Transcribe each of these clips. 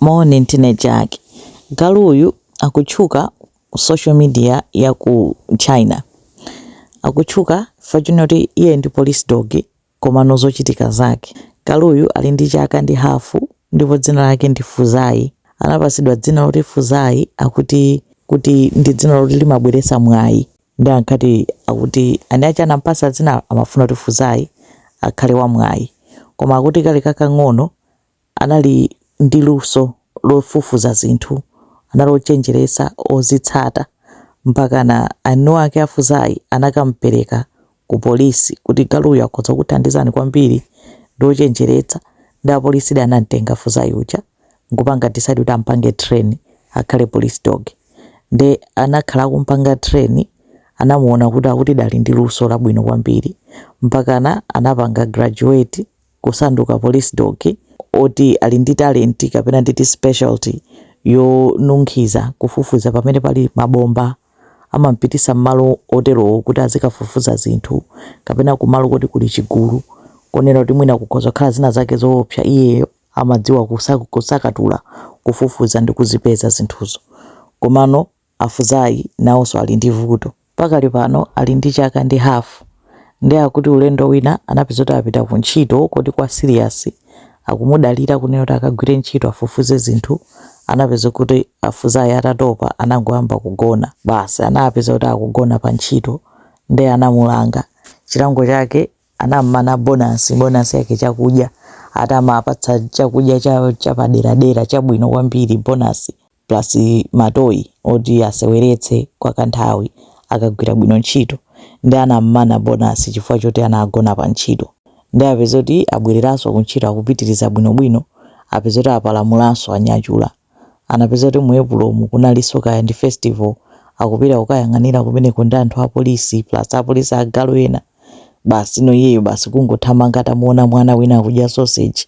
Moni ndine Jack. Galu uyu akutchuka social media ya ku China. Akutchuka chifukwa chonena kuti iyeyu ndi police dog komano zochitika zake. Galuyu ali ndi chaka ndi hafu ndipo dzina lake ndi Fuzayi. Anapatsidwa dzina loti Fuzayi akuti ndi dzina loti limabweretsa mwayi. Ndiye ankati akuti ani aja anamupatsa dzinalo amafuna kuti Fuzayi akhale wamwayi. Koma akuti kali kakang'ono anali ndi luso lofufuza zinthu, anali ochenjeresa ozitsata mpakana eni ake a Fuzai anakamupereka ku polisi kuti galuyu akhoza kukuthandizani kwambiri ndi ochenjeretsa nde apolisidi anamtenga Fuzai uja nkupanga decide kuti ampange train akhale police dog nde anakhala akumpanga train anamuona kuti akutidi ali ndi luso labwino kwambiri mpakana anapanga graduate kusanduka police dog oti ali ndi talent kapena nditi specialty yonunkhiza kufufuza pamene pali mabomba amampitisa mmalo oterowo kuti azikafufuza zinthu kapena kumalo koti kuli chigulu konena kuti mwina kukhoza kukhala zina zake zoopsa iyeyo amadziwa kusakatula kufufuza ndi kuzipeza zinthuzo komano A Fuzai nawonso ali ndi vuto. Pakali pano ali ndi chaka ndi hafu nde akuti ulendo wina anapeza kuti apita ku ntchito koti kwa serious akumudalira kunena kuti akagwire ntchito afufuze zinthu anapeza kuti a Fuzai atatopa anangoyamba kugona basi anapeza kuti akugona pa ntchito nde anamulanga chilango chake anam'mana bonasi bonasi yake chakudya ati amapatsa chakudya cha chapaderadera chabwino kwambiri bonasi plus ma toy oti aseweretse kwa kanthawi akagwira bwino ntchito nde anammana bonus chifukwa choti anagona pa ntchito nde apeza kuti abwereranso ku ntchito akupitiriza bwinobwino apeza kuti apalamulanso a Nyachula anapeza kuti mu Epulomu kunalinso kaya ndi festival akupita kukayang'anira kumeneko ndi anthu apolisi plus apolisi agalu ena basi no iyeyo basi kungothamanga atamuona mwana wina akudya sausage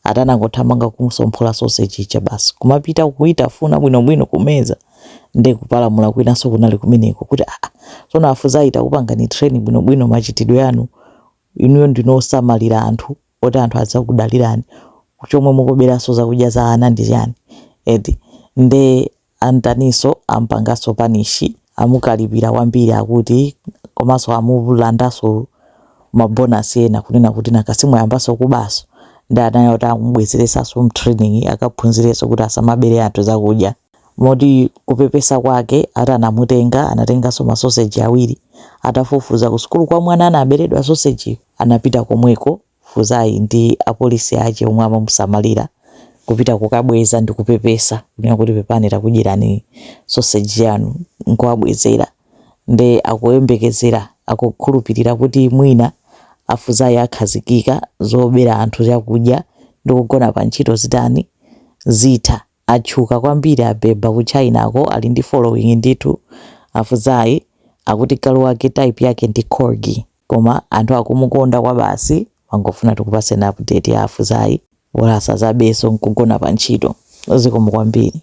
Ati anangothamanga kumusomphora sausage ija basi kumapita kuitafuna bwinobwino kumeza nde kupalamula kwinanso kunali kumeneko kuti aa tsono a Fuzayi takupangani train bwinobwino machitidwe anu inuyo ndinu osamalira anthu oti anthu adzakudalirani chomwe mukuberanso zakudya za ana ndi chiyani eti nde Antaninso ampangaso punish amukalipira kwambiri akuti komaso amulandaso ma bonus ena kunena kuti nanga simwayambaso kubaso nde anayo kuti amubwezelesaso mtraining akaphunzileso kuti asamabele anthu zakudya moti kupepesa kwake ati anamutenga anatengaso ma sausage awiri atafufuza kusukulu kwa mwana anabeledwa sausage yu anapita komweko Fuzai ndi apolisi ache omwe amamusamalira kupita kukabweza ndi kupepesa kunena kuti pepani takudyerani soseji yanu nkuwabwezera ndiye akuyembekezera akukhulupilira kuti mwina a Fuzai akhazikika zobera anthu chakudya ndi kugona pa ntchito zitanizitani zitha. Atchuka kwambiri abeba ku Chinako ali ndi following ndithu a Fuzai akuti galu wake type yake ndi Corgi. Koma anthu akumukonda kwabasi timangofuna tikupaseni update ya a Fuzai bola asazabeso nkugona pa ntchito zikomo kwambiri.